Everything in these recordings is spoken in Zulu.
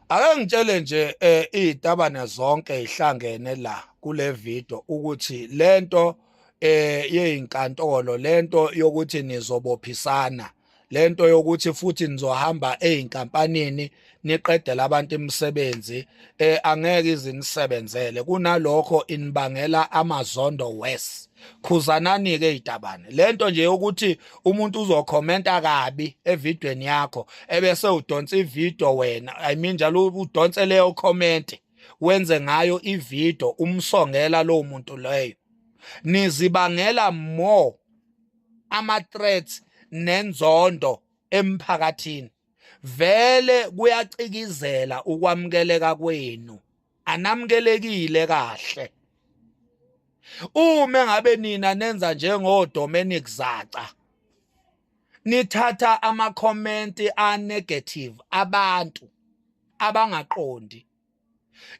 Ake ngitshele nje eh izitabane zonke ihlangene la kule video ukuthi lento eh yezinkantolo lento yokuthi nizobophisana lento yokuthi futhi nizohamba ezinkampanini niqedela abantu imisebenzi eh angeke izinisebenzele kunalokho inibangela amazondo west khuzanani ke itabane lento nje ukuthi umuntu uzokhomenta kabi evidweni yakho ebese udonsa ivideo wena i mean njalo udonse leyo comment wenze ngayo ivideo umsongela lo muntu leyo nizibangela more ama-threats nenzondo emphakathini vele kuyacikizela ukwamukeleka kwenu anamukelekile kahle uma ngabe nina nenza njengoDominic Zaca nithatha ama-comment a-negative abantu abangaqondi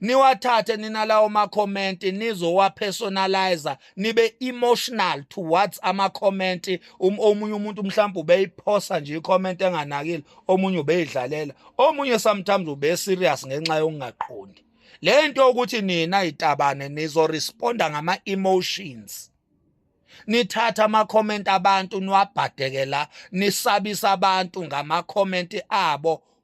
niwathathe nina lawo ma-comment nizowapersonalizer nibe emotional towards ama-comment um, omunye umuntu mhlawumbe ubeyiphosa nje i-comment enganakile omunye ubeyidlalela omunye sometimes ubeserious ngenxa yokungaqondi le nto yokuthi nina itabane nizoresponda ngama-emotions nithatha ama-comment abantu niwabhadeke la nisabisa abantu ngama-comment abo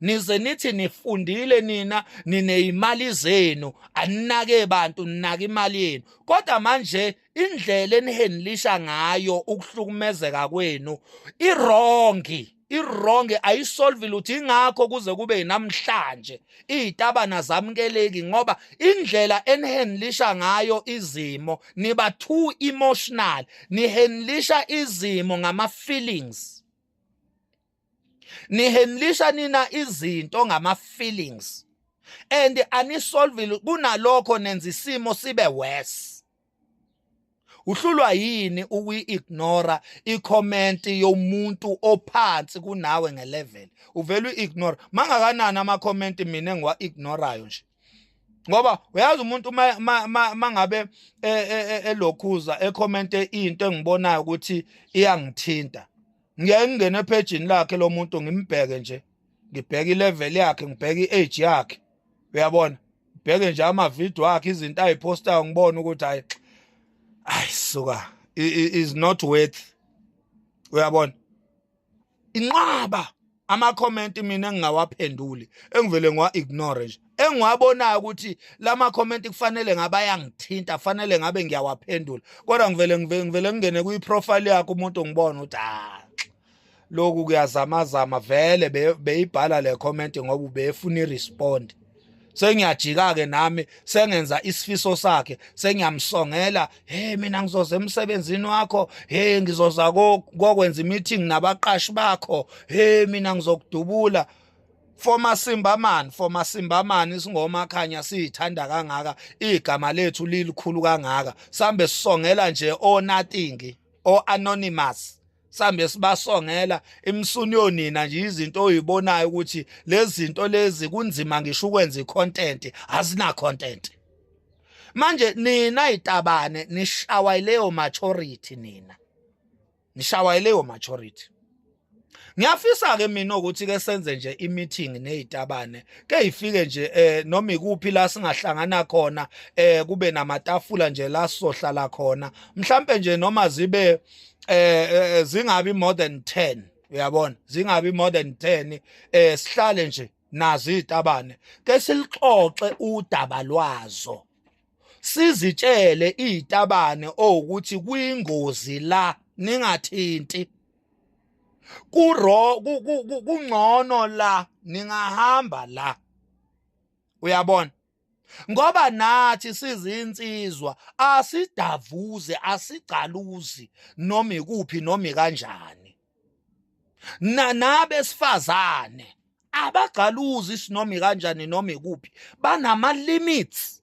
nize nithi nifundile nina nineyimali zenu aninake bantu ninake imali yenu kodwa manje indlela enihenlisha ngayo ukuhlukumezeka kwenu irongi ironge ayisolve lutho ingakho kuze kube namhlanje izitabana zamkeleki ngoba indlela enihandlisha ngayo izimo niba too emotional nihandlisha izimo ngama feelings nihenlisha nina izinto ngama feelings and anisolvile kunalokho nenza isimo sibe worse uhlulwa yini ukuyi-ignora i-comment yomuntu ophansi kunawe nge-level uvele uyi-ignora mangakanani ama-comment mina engiwa-ignorayo nje ngoba uyazi umuntu mangabe e, e, e, elokhuza ekhomente into engibonayo ukuthi iyangithinta ngiyaye ngingene ephejini lakhe lo muntu ngimbheke nje ngibheke ilevel yakhe ngibheke i-age yakhe uyabona ngibheke nje amavidiyo akhe izinto ayiphostayo ngibone ukuthi hayi ayi suka is not worth uyabona inqaba ama comment mina engingawaphenduli engivele ngiwa ignore nje engiwabonayo ukuthi lama comment kufanele ngaba yangithinta fanele ngabe ngiyawaphendula kodwa ngivele ngivele ngingene kwi profile yakho umuntu ngibona ukuthi ah lokhu kuyazamazama vele beyibhala le comment ngoba ubefuna i respond sengiyajika-ke nami sengenza isifiso sakhe sengiyamsongela hey mina ngizoza emsebenzini wakho hey ngizoza kokwenza imeeting nabaqashi bakho hey mina ngizokudubula Former Simbaman, former Simbaman isingoma khanya sithanda kangaka, igama lethu lilikhulu kangaka. Sambe sisongela nje o nothing, o anonymous. sambe sibasongela imsuni yonina nje izinto oyibonayo ukuthi lezi zinto lezi kunzima ngisho ukwenza icontent azina content manje nina itabane nishawa ileyo maturity nina nishawa ileyo maturity ngiyafisa ke mina ukuthi ke senze nje imeeting nezitabane ke ifike nje eh noma ikuphi la singahlangana khona eh kube namatafula nje la sohlala khona mhlambe nje noma zibe eh, eh, eh zingabi more than 10 uyabona zingabi more than 10 eh sihlale nje nazi itabane ke silixoxe udaba lwazo sizitshele izitabane ukuthi kwingozi la ningathinti kuro kungcono la ningahamba la uyabona ngoba nathi sizinsizwa asidavuze asigcaluzi noma ikuphi noma kanjani na nabesifazane abagcaluzi sinoma kanjani noma ikuphi banama limits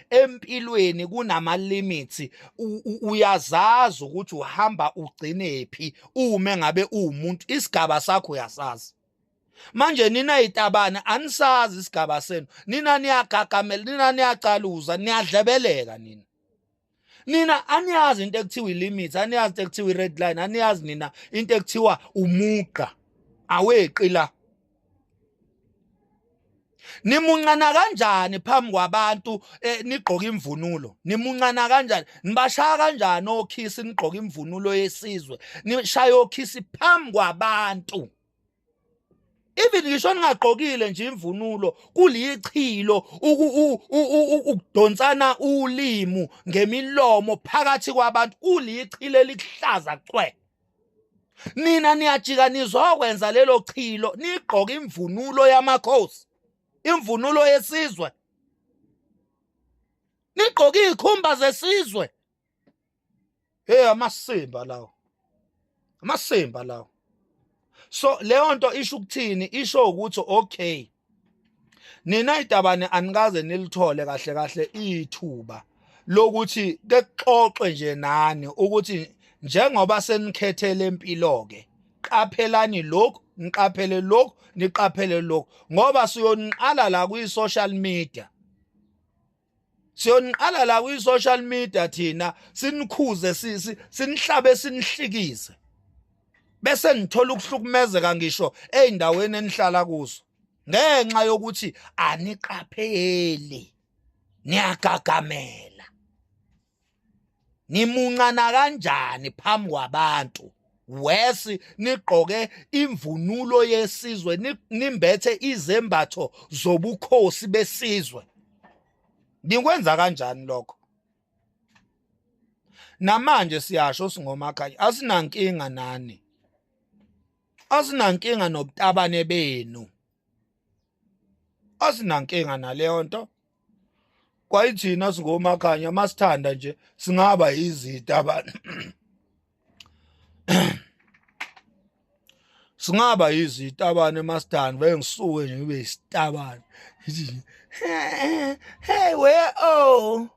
empilweni kunama limits uyazazi ukuthi uhamba ugcinephi uma ngabe uwumuntu isigaba sakho uyasazi manje nina itabana anisazi isigaba senu nina niyagagamela nina niyacaluza niyadlebeleka nina nina aniyazi into ekuthiwa ilimit aniyazi into ekuthiwa ired line aniyazi nina into ekuthiwa umugqa aweqi la nimuncana kanjani phambi kwabantu eh, nigqoka imvunulo nimuncana kanjani nibashaya kanjani okhisi nigqoka imvunulo yesizwe nishaya okhisi phambi kwabantu even ngisho ningagqokile nje imvunulo kulichilo ukudonsana ulimu ngemilomo phakathi kwabantu kulichilo elihlaza cwe nina niyajika nizokwenza lelo chilo nigqoke imvunulo yamakhosi imvunulo yesizwe nigqoke izikhumba zesizwe hey amasimba lawo amasimba lawo so leyo nto isho ukuthini isho ukuthi okay nina idabane anikaze nilithole kahle kahle ithuba lokuthi kexoxe nje nani ukuthi njengoba senikhethele impilo ke qaphelani lokhu niqaphele lokhu niqaphele lokhu ngoba siyoniqala la kwi social media siyoniqala la kwi social media thina sinikhuze sisi sinihlabe sinihlikize bese nithola ukuhlukumezeka ngisho ezindaweni enihlala kuzo ngenxa yokuthi aniqapheli niyagagamela nimuncana kanjani phambi kwabantu wesi nigqoke imvunulo yesizwe nimbethe izembatho zobukhosi besizwe nikwenza kanjani lokho namanje siyasho singomakhayi asinankinga nani asinankinga nobutabane benu asinankinga naleyo nto kwayithina singomakhanya masithanda nje singaba izita abantu singaba yizitabane masithanda vele ngisuke nje ngibe yisitabane hey where oh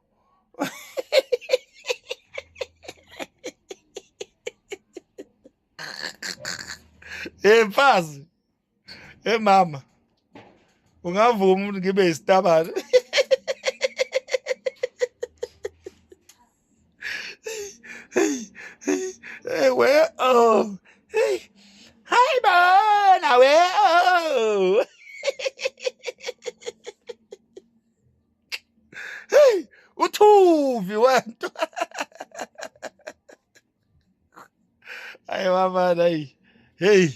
hey mfazi Hey mama. Ungavuma umuntu ngibe isitabane. Hey we oh. Hey. Hi bona we oh. Hey, uthuvi wento. ayi wamana ayi hey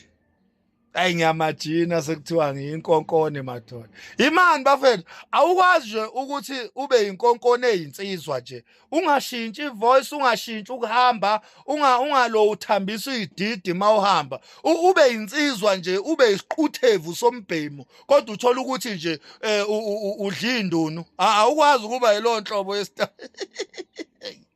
ayi ngiyamajina sekuthiwa ngiyinkonkone madoda imani bafethu awukwazi nje ukuthi ube yinkonkone eyinsizwa nje ungashintshi ivoice ungashintshi ukuhamba unga ungalo uthambisa ididi mawuhamba ube yinsizwa nje ube isiquthethu sombhemu kodwa uthola ukuthi nje eh, udla indunu awukwazi ukuba yilonhlobo yesitayela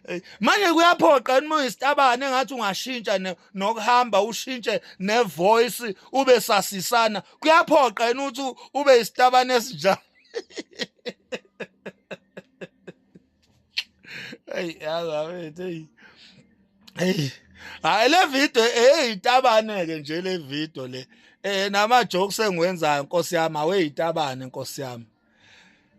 Eh, manje kuyaphoqa yini uma uyisitabane ngathi ungashintsha nokuhamba ushintshe nevoice ube sasisana kuyaphoqa yini ukuthi ube isitabane esinjalo hey yazabethu hey hey hayi le video hey itabane ke nje le video le eh nama jokes engiwenzayo nkosi yami aweyitabane nkosi yami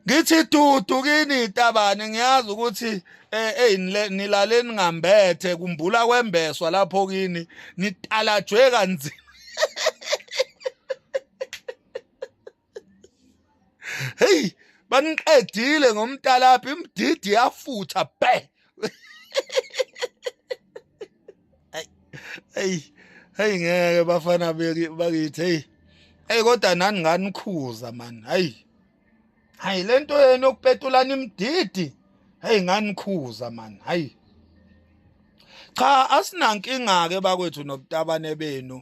ngithi dudu kini tabane ngiyazi ukuthi eh hey nilale ningambethe kumbula kwembeswa lapho kini nitalajwe kanzima hey baniqedile ngomtalaphi imdidi yafutha bhe hey hey ngeke bafana bakithi hey hey kodwa nani nganikhuza man hey hayi lento yenu yokupetulana imdidi hey nganikhuza man hayi cha asinankinga ke bakwethu nobutabane benu